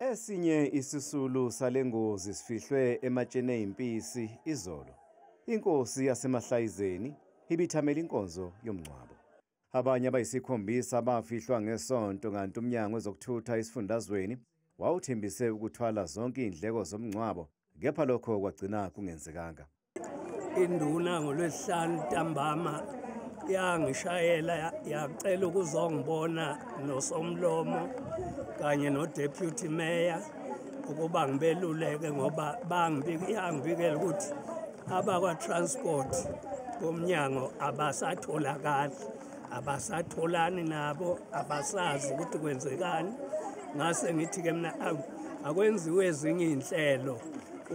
Esinye isisulu sale ngozi sifihlwe ematsheni eyimpisi izolo. Inkosi yaseMahlayizeni ibithamela inkonzo yomngcwabo. Abanye abayisikhombisa bafihlwa ngesonto kanti umnyango wezokuthutha esifundazweni wawuthembise ukuthwala zonke iy'ndleko zomngcwabo kepha lokho kwagcina kungenzekanga. induna ngolwesihlanu ntambama yangishayela yacela ukuzongibona nosomlomo kanye nodeputy mayor ukuba ngibeluleke ngoba yangibikela ukuthi abakwa-transport bomnyango abasatholakali abasatholani nabo abasazi ukuthi kwenzekani ngase ngithi-ke mina akwenziwe ezinye iy'nhlelo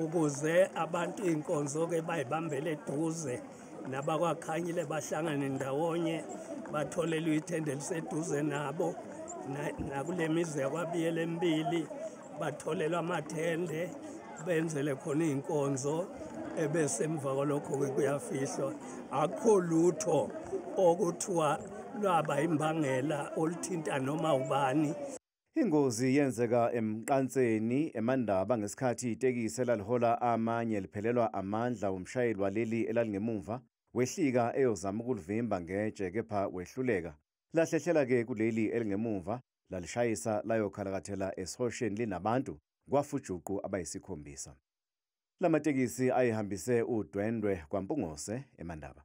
ukuze abantu iy'nkonzo-ke bayibambele eduze nabakwakhanyile bahlangane ndawonye batholelwe ithende eliseduze nabo nakule mizi yakwabiyela emibili batholelwa amathende benzele khona iy'nkonzo ebese emva kwalokho-ke kuyafihlwa akukho lutho okuthiwa lwaba imbangela oluthinta noma ubani Ingozi yenzeka emqanseni eMandaba ngesikhathi itekisi elalihola amanye liphelelwa amandla wumshayeli waleli elalingemumva wehlika eyozama ukulivimba ngetshe kepha wehluleka. Lahlehlela-ke kuleli elingemumva lalishayisa layokhalakathela esihosheni linabantu kwafujuqu abayisikhombisa. La matekisi ayihambise udwendwe kwaMpungose eMandaba.